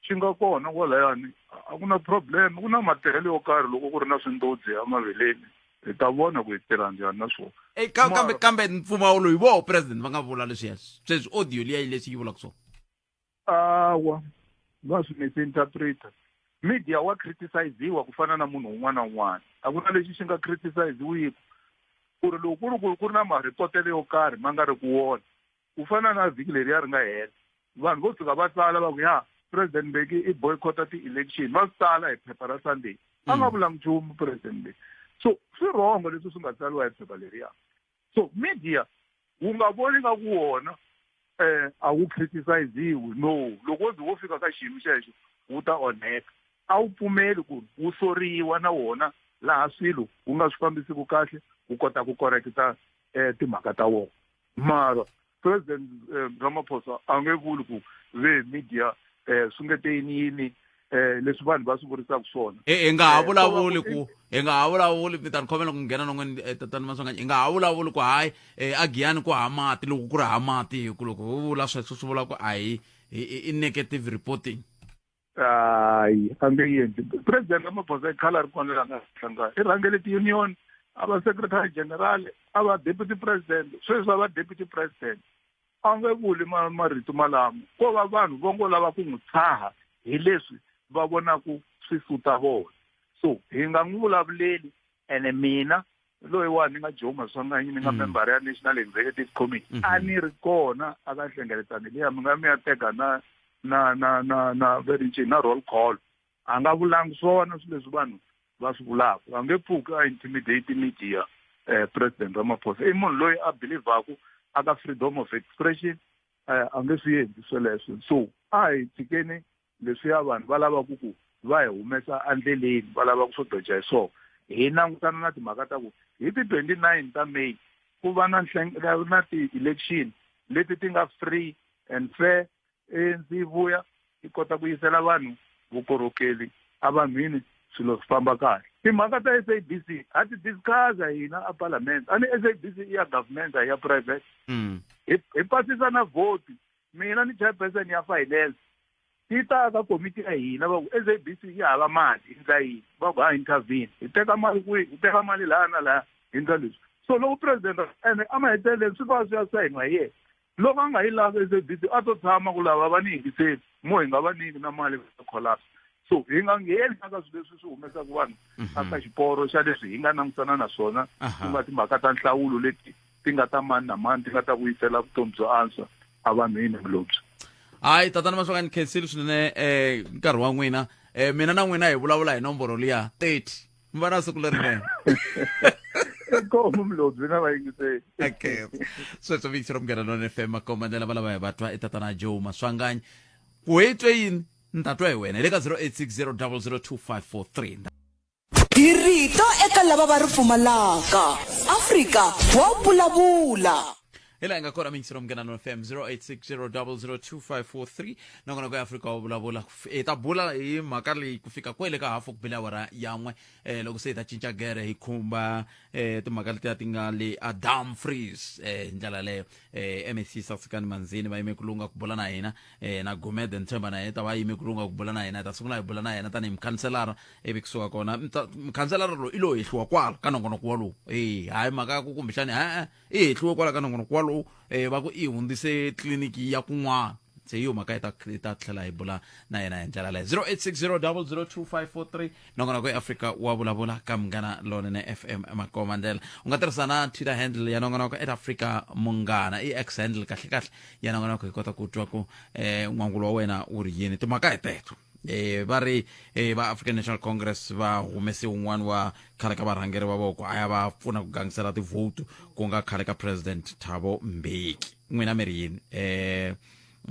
xi nga kona kwalayani a ku na problem ku na matirhelo yo karhi loko ku ri na swindodzi emaveleni hi ta vona ku hi tirha njhani na swona eh, kambe kambe mpfumawulo hi voho president va nga vula leswiya sweswi audio liya yi leswi yi vulaka swona awa va swi misinterpreta media wa criticiziwa ku fana na munhu un'wana na un'wana a ku na lexi xi nga criticiziwiki ku ri loko ku ri ku ri ku ri na marhipotelo yo karhi ma nga ri ku wona ku fana na vhiki leriya ri nga hela vanhu vo tshuka va tsala va ku ya president mbeki i boycotta ti-election va swi tsala hi phepha ra sunday a nga vulanga nchumu president mbeki so swi rhongo leswi swi nga tsariwa hi phepha leriya so media wu nga voni nga ku wona um a wu criticiziwi no loko wo ze wo fika ka xiyimo xexo wu ta onheka a wu pfumeli ku ri wu soriwa na wona laha swilo wu nga swi fambisiku kahle wu kota ku koreketa um timhaka ta wona mara president eh, ramaphosa a nge vuli ku ve media um swi nge te yini yini um leswi vanhu va swi vurisaka swona e hi nga ha eh, vulavuli ku hi nga ha vulavuli mi ta ni khomela ku nghena non'wini eh, tatani maswanganyi hi nga ha vulavuli ku hayi um a giyani ku ha mati loko ku ri ha mati hi ku loko ho vula sweswo swi vula ku a hi i negative reporting hayi a nge yendli president ramaphosa i khala ri kona la nga hlangana i rhangele ti-union a va secretary general a va deputy president sweswi a va deputy president a nge vuli marito malamo ko va vanhu vo ngo lava ku n'wi tshaha hi leswi va vonaku swi suta vona so hi nga n'wi vulavuleli ene mina loyiwani ni nga joe maswanganyi ni nga mm. membara ya national executive committee mm -hmm. a ni ri kona a ka nhlengeletano liya mi nga mi ya teka na na na na na verinci na roll call a nga vulangi swona swi leswi vanhu va swi vulaka a nge pfuki a intimidate media eh, president ramaphosa i munhu loyi a believaku a ka freedom of expression eh, a nge swi endli sweleswo so a hi tshikeni Leswiya vanhu va lava ku ku va hi humesa endleleni, va lava ku swo doja hi swona. Hi langutana na timhaka ta ku hi ti 29 ta May ku va na na ti-election leti ti nga free and fair, A_N_C yi vuya yi kota ku yisela vanhu vukorhokeli evanhwini swilo swi famba kahle. Timhaka ta SABC ha ti discuss-a hina a palamende, a ni SABC i ya government a hi ya private. Hi hi pasisa na vote. Mina ni chairperson ya finance ti ta ka komiti ya hina va ku SABC yi hava mali hi ndla yini va ku ha intervene hi teka mali kwihi hi teka mali laha na laha hi ndla leswi so loko president ene a maheteleleni swi va swi ya sayiniwa hi yena loko a nga yi lavi SABC a to tshama ku lava va ni yingiseli mo hi nga va niki na mali va collapse so hi nga ngheni aka swilo leswi swi humesaka vanhu aka xiporo xa leswi hi nga langutana na swona ku nga timhaka ta nhlawulo leti ti nga ta mani na mani ti nga ta vuyisela vutomi byo antswa evanhwini vulobyi hayi tatana mahlonga ni khensile swinene um nkarhi wa n'wina um mina na n'wina hi vulavula hi nomboro liya thirty mi va na siku lerinene komu mlobyi na vayingiseli okay sweswo vikisi ro munghana lona fm makomba ndlela valava hi vatwa i tatana joe maswanganyi ku hetwe yini ni ta twa hi wena hi le ka 0860 002 543 Hi rito eka lava va ri pfumalaka. Afrika wa vulavula. hi laha hi nga kona mingisiro mngenano fm 0860002543 nakona ku ya afrika wa vulavula hi ta bula hi mhaka leyi ku fika kwele ka hafu ku bile awara yan'we um loko se hi ta cinca gere hi khumba um timhaka letiya ti nga le adam frees um hi ndlela yaleyo um mec sasekani manzini va yime ku lunga ku bula na hina um na gumede ntshemba na yena ta va yime ku lunga ku bula na hina hi ta sungula hi bula na yena tanihi mukhanselara ivi kusuka kona mta- mukhanselara loyi i lo hehliwa kwala ka nongonoko walowu e hayi mhaka ya ku kumbexani e-e i hehliwe kwala ka nongonoko walowu um va ku i hundzise tliliniki ya kun'wana se hi yo mhaka hi ta hi ta tlhela hi bula na yena hi ndlela leyo 0860002543 nongonoko ya afrika wa vulavula ka munghana lonene fm makoma ndlela u nga tirhisa na twitter handle ya nongonoko at africa munghana i x handle kahlekahle ya nongonoko hi kota ku twa ku um n'wangulo wa wena wu ri yini timhaka hi teto e va ri e va african national congress va humese un'wana wa khale ka varhangeri va voko a ya va pfuna ku gangisela tivhotu ku nga khale ka president thabo mbeki n'wina mi ri yini um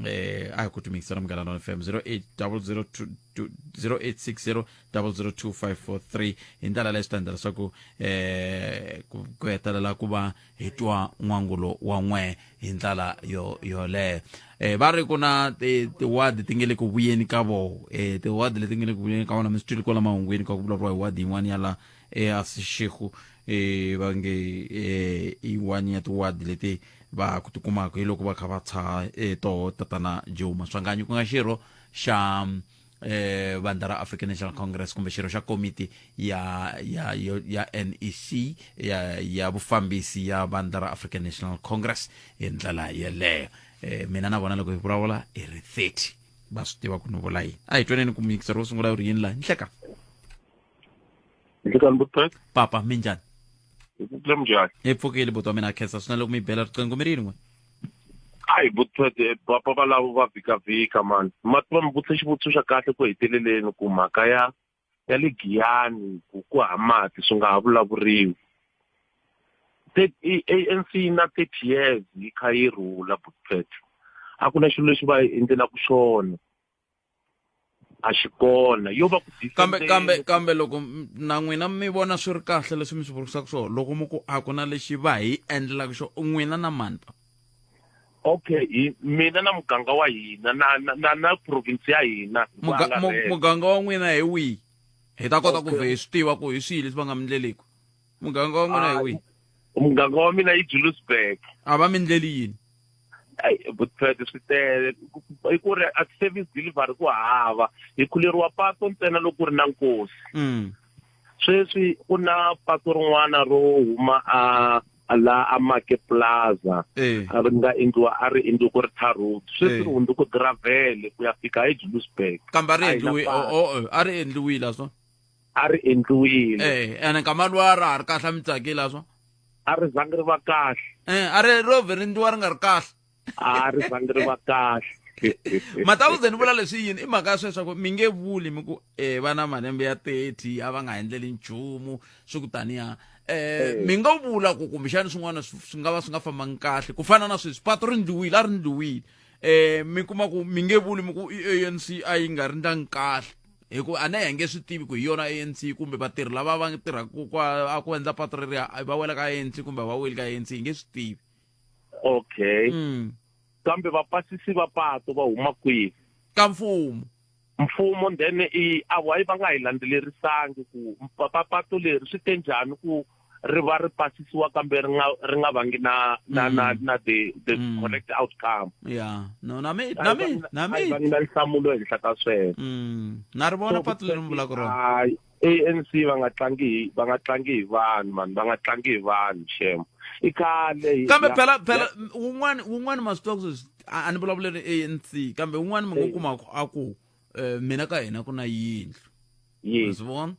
eh a hi ku timikisela munghana lona fm 0860002543 hi ndlela leyi swi ta endla leswaku eh ku hetelela ku va hi twa n'wangulo wa n'we hi ndlela yo yoleyo um va ri ku na tiwadi ti nge le ku vuyeni ka voho um tiwadi leti nge le ku vuyeni ka vona mi swi twile kwala mahungwini ka ku vulavuriwa hi wadi yin'wana ya la easixeku um eh, va nge um yin'wana ya tiwadi leti va ku tikumaka hi loko va kha va tshaha um toho tatana joe maswanganyi ku nga xirho xa eh, vandla ra african national congress kumbe xirho xa komiti ya ya yo- ya nec ya, ya vufambisi ya vandla ra african national congress hi ndlela yeleyo eh, mina na vona loko hi vulavula hi ri 30 va swi tiva ku ni vula yini a hi twaneni ku mikisa ro sungula u ri yini laha nhleka njekani butpek papa mi njhani hi pfukile munjhani hi pfukile buti wa mina khensa swi na loko mi bela riqingho mi ri yin'we hayi butpek eh, papa valavo va vhikavhika mani mati va mi vutise xivutiso xa kahle ku heteleleni ku mhaka ya ya le giyani ku ku ha mati swi nga ha vulavuriwi anc na thirty years yi kha yi rhula butpek a ku na xilo lexi va endlelaku xona a xi kona yo va ku kambe kambe kambe loko na n'wina mi vona swi ri kahle leswi mi swi vurisaka swona loko mi ku a ku na lexi va hi endlelaka xo n'wina na mani pa okay hi mina na muganga wa hina na na na province ya hina muganga wa n'wina hi wihi hi ta kota ku vhe hi swi tiva ku hi swihi leswi va nga mi ndleleki muganga wa n'wina hi Ah, wihi muganga wa mina yi julusburg a va mi ndleli yini Ai, vutswete swi tele Ku- ku- i ku ri a service delivery ku hava hi khuleriwa pato ntsena loko ku ri na nkosi Mm. sweswi ku na pato rin'wana ro huma a a la a make plaza Eh. a ri nga endliwa a ri endliwe ku ri tar road sweswi Eh. ri hundze ku gravele ku ya fika ejulusburg kambe a ri A hi na endliwi patu. o- o- a ri endliwile a swona a ri endliwile eh ene nkama luwa a ra ha ri kahle a mi tsakile a swa a ri zangi ri va kahle eh a ri ro vhe ri ndliwa ri nga ri kahle a ri zangi ri va kahle mataku ze ni vula leswi yini i mhaka ya sweswa ku mi nge vuli mi ku eh va na malembe ya 30 a va nga endleli nchumu swi ku taniya eh mi nga vula ku kumbexani swin'wana swi nga va swi nga fambangi kahle ku fana na sweswi pato ri ndliwile a ri ndliwile eh mi kuma ku mi nge vuli mi ku i ANC a yi nga ri ndlangi kahle hikuva a na hi nge swi tivi ku hi yona anc kumbe vatirhi lava va tirhaka ku endla pato reriya va wela ka anc kumbe va weli ka anc hi nge swi tivi okay mm. kambe vapasisi va pato va huma kwihi ka mfumo mfumo then i a why va nga hi landzelerisangi ku pato leri swi te njhani ku ri va ri pasisiwa kambe ri nga ri nga vangi na na na mm. na the the mm. correct outcome yeah no na me na me na me va nga nhlamulo ehenhla ka sweswo mm. na ri vona patu leri mi vulaka rona ANC va nga tlangi va nga tlangi hi vanhu mani va nga tlangi hi vanhu shema i khale kambe phela phela wun'wani wun'wani ma swi twa ku a ni vulavuleli ANC kambe wun'wani mi nga kuma a ku um mina ka hina ku na yindlu mi swi vona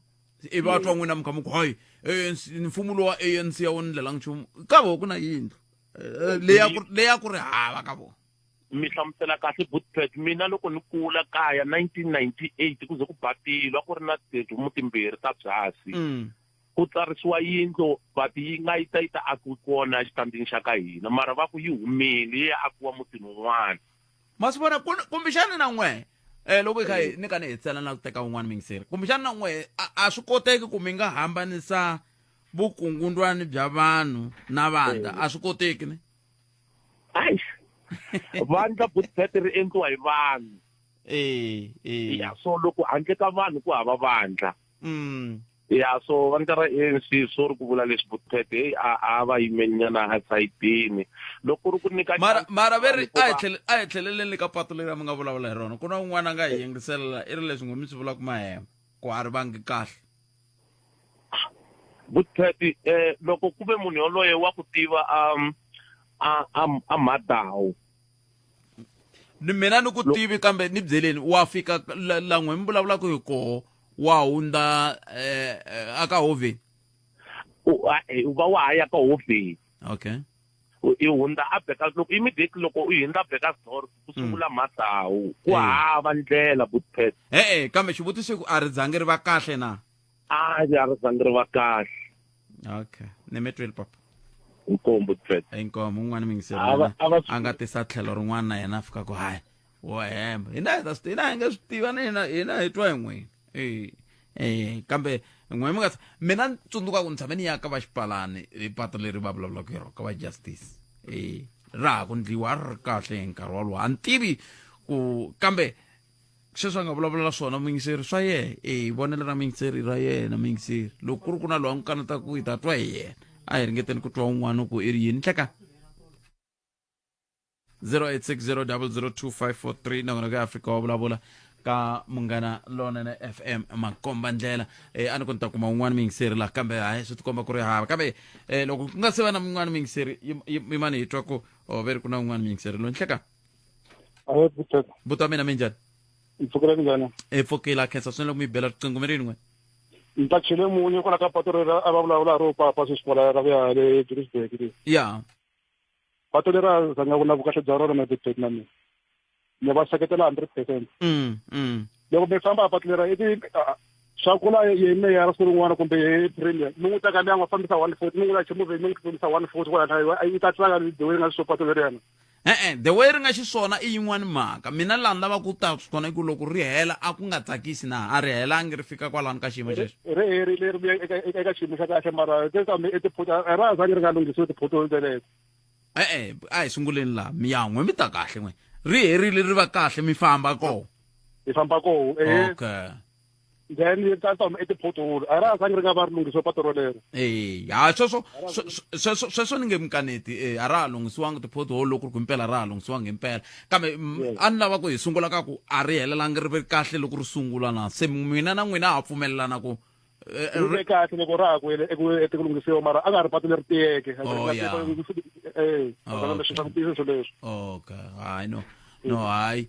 ivi a twa n'wina muka muku hayi ANC mfumo lowa ANC a wu ni ndlela nchumu ka vo ku na yindlu Eh, leya ku- leya ku ri hava ka vona mi hlamusela kahle bootpad mina loko ni kula kaya 1998 ku ze ku batilwa ku ri na tihomu timbirhi ta byasi Mm. ku tsarisiwa yindlo but yi nga yi ta yi ta akiwi kona exitandini xa ka hina mara va ku yi humile yi ya akiwa mutini wun'wana ma swi vona kumbexana na n'we um loko hi kha eh. ni ka ni hetsela na ku teka un'wana mingiseri kumbexana na n'we a swi koteki ku mi nga hambanisa vukungundwani bya vanhu na vandla eh. a swi koteki ni ai vandla budget ri endliwa hi vanhu e ya so loko handle ka vanhu ku hava vandla mm. ya so vandla ra anc swo ri ku vula leswi vutete heyi a a va yimenyana esayitini loko ri ku nyika mara mara ve ri a hi tlheleleni ka pato leri a mi nga vulavula hi rona ku na un'wana a nga hi yingiselela i ri leswi ngo mi swi vula ku mahema ku a ri vangi kahle vutete um loko ku ve munhu yoloye wa ku tiva um a a a madawu ni mina ni ku tivi kambe ni byeleni wa fika la n'we mi vulavulaka hi koho wa hundza eh, eh, aka hoveni eh, u va wa ha ya ka hoveni okay i hundza a beka loko immediately loko u hundza beka store ku sungula mm. matsawu ku hava ndlela butpet e-e kambe xivutiso ku a ri zangi ri va kahle na a ndzi a ri zangi ri va kahle okay ni mi twile papa nkombo tret inkomo un'wana mi ngiseri A va- yena a va swi- a nga tisa tlhelo rin'wana na yena a fika ku hayi wo hemba hina hi ta swi hina hi nge swi tiva na hina hina hi twa hi n'wini Eh, eh, kambe n'wina mi nga tshama- mina ni tsundzuka ku ni tshame ni ya ka va xipalani hi pato leri va vulavulaka hi rona ka va justice Eh, ra ha ku ndliwa a ri ri kahle hi nkarhi wolowo a ni tivi ku kambe sweswi a nga vulavula na swona muyingiseri swa yena e hi vonelo ra muyingiseri ra yena muyingiseri loko ku ri ku na loyi a n'wi kaneta ku hi ta twa hi yena a hi ringeteni ku twa un'wana ku i ri yini nhleka 0860002543 nakona ka afrika wa vulavula ka munghana lonene fm makomba ndlela eh, a ni ku ni ta kuma un'wana muyingiseri laha kambe hayi swi tikomba ku ri hava kambe eh, loko ku nga se va na mun'wana muyingiseri yim- yim- yimani hi twa ku oh, ve ri ku na un'wana muyingiseri lo nhleka Ayo butaka. buti wa mina mi njhani Ni pfukela njhani? e pfukela khensa swinene loko mi yi bela riqingho mi ri yin'we Ni ta chele munye kwala ka patu rera a va vulavula ro papa sweswi kwala ra ku ya le Johannesburg le. ya Patu lera za nga vula vukahle bya rona na Joburg na mina. Ni va seketela 100%. mm mm Loko mi famba patu lera i ti ah, swa kula ye meya ra siku rin'wana kumbe ye premier mi n'wi teka liyanga fambisa 140 mi n'wi lache movheni mi n'wi tsutsumisa 140 kwala na yi ta tsaka ni dewini nga swo patu leriyana E-e, the way ri nga xiswona i yin'wana mhaka. Mina laha ni lavaka ku ta kona i ku loko ri hela a ku nga tsakisi na, a ri helangi ri fika kwalano ka xiyimo xexo. Ri herile ri vuya eka eka xiyimo xa kahle mara kambe i tiphoto a ra ha zangi ri nga lunghisiwi tiphoto teleto. E-e, a hi sunguleni laha mi ya n'we mi ta kahle n'we ri herile ri va kahle mi famba koho. Hi famba koho ehe. Okay. then yi ta toma i tiphotholo a ra ha sangi ri nga va ri lunghisiwe pato rolero e ha sweswo sweswo sweswo ni nge mi kaneti e a ra ha lunghisiwangi tiphotholo loko ri ku impela ra ha lunghisiwangi impela kambe a ni lava ku hi sungula ka ku a ri helelangi ri ve kahle loko ri sungula na se n'wina na n'wina ha pfumelelana ku e, e, ri ve kahle loko ra ha ku hele eku ete ku lunghisiwa mara a nga ha ri pato leri tiyeke e, oh, e oh, okay hayi no no hayi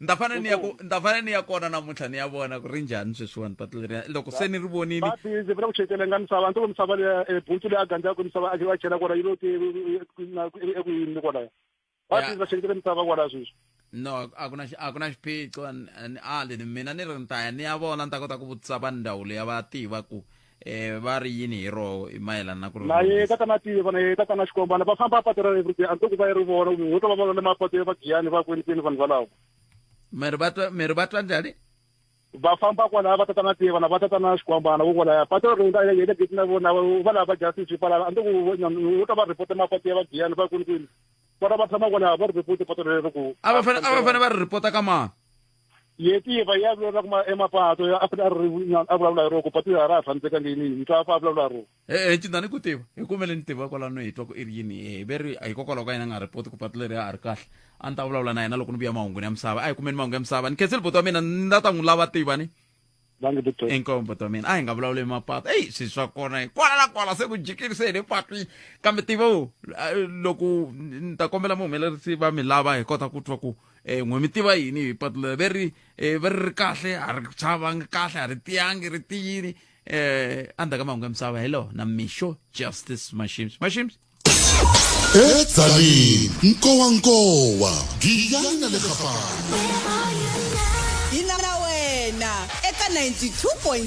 ni ta fane ni ya ku ni ta fane ni ya kona namuntlha ni ya vona ku ri njhani sweswiwani patu leriya loko se ni ri vonile patu ndzi vula ku chekelenga misava ni to misava leya e, buntsu leyi a gandzaka misava a va chela kona yi lo ti eku yini kwalaya patu va cheketele misava kwalaya sweswi no a ku na a ku na xiphiqo a leni mina ni ri ni ta ya ni ya vona ni ta kota ku vutisa va ndhawu leyi va tiva ku eh va ri yini hi roho hi mayelana na ku ri na ye tatana tiva na ye tatana xikombana va famba patu ra everyday a ntoku va yi ri vona ho ta va vona le mapatu ya vagiyani va kwenikwini vanhu valavo miri va twa miri va twa njhani va famba kwalaya va tatana tiva na va tatana xikwambana vo kwalaya patu ra rhunda ye le geti na vona va lava va justice kwalaya a ntoku ho ta va report mapatu ya vagiyani va kwenikwini vona va tshama kwalaya va ri report patu rero ku a va fane a va fane va ri report ka mani yetiva ya vulavulaka ma- emapato ya- a fane a ri nyana a vulavula hi rona ku pato ya ra ha tshamisekanga yini yini twa fa a vulavula hi rona e cindani ku tiva hi kumele ni tiva kwalano hi twa ku i ri yini hi ve ri hikokwalaho ka yena a nga repoti ku patu leri a ri kahle a ni ta vulavula na yena loko ni vuya mahungwini ya misava a hi kumeni mahungu ya misava ni khenseli boti wa mina ni la ta n'wi lava tivani bangi butomi inkomu butomini a hi nga vulavuli hi mapatu eyi swi swa kona hi kwala na kwala se ku jikile se hi le patwini kambe tivo loko ni ta kombela muhumelerisi va mi lava hi kota ku twa ku um n'we mi tiva yini hi patu leri ve ri eh, ve ri ri kahle a ri chavangi kahle a ri tiyangi ri tiyini um endzhaku ka mahungu ya misava hello na mixo justice mashims mashims edzaleni nkowankowa giyani na le gafana yi na na wena eka 92.6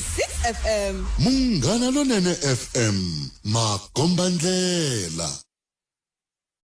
fm munghana lonene fm makombandlela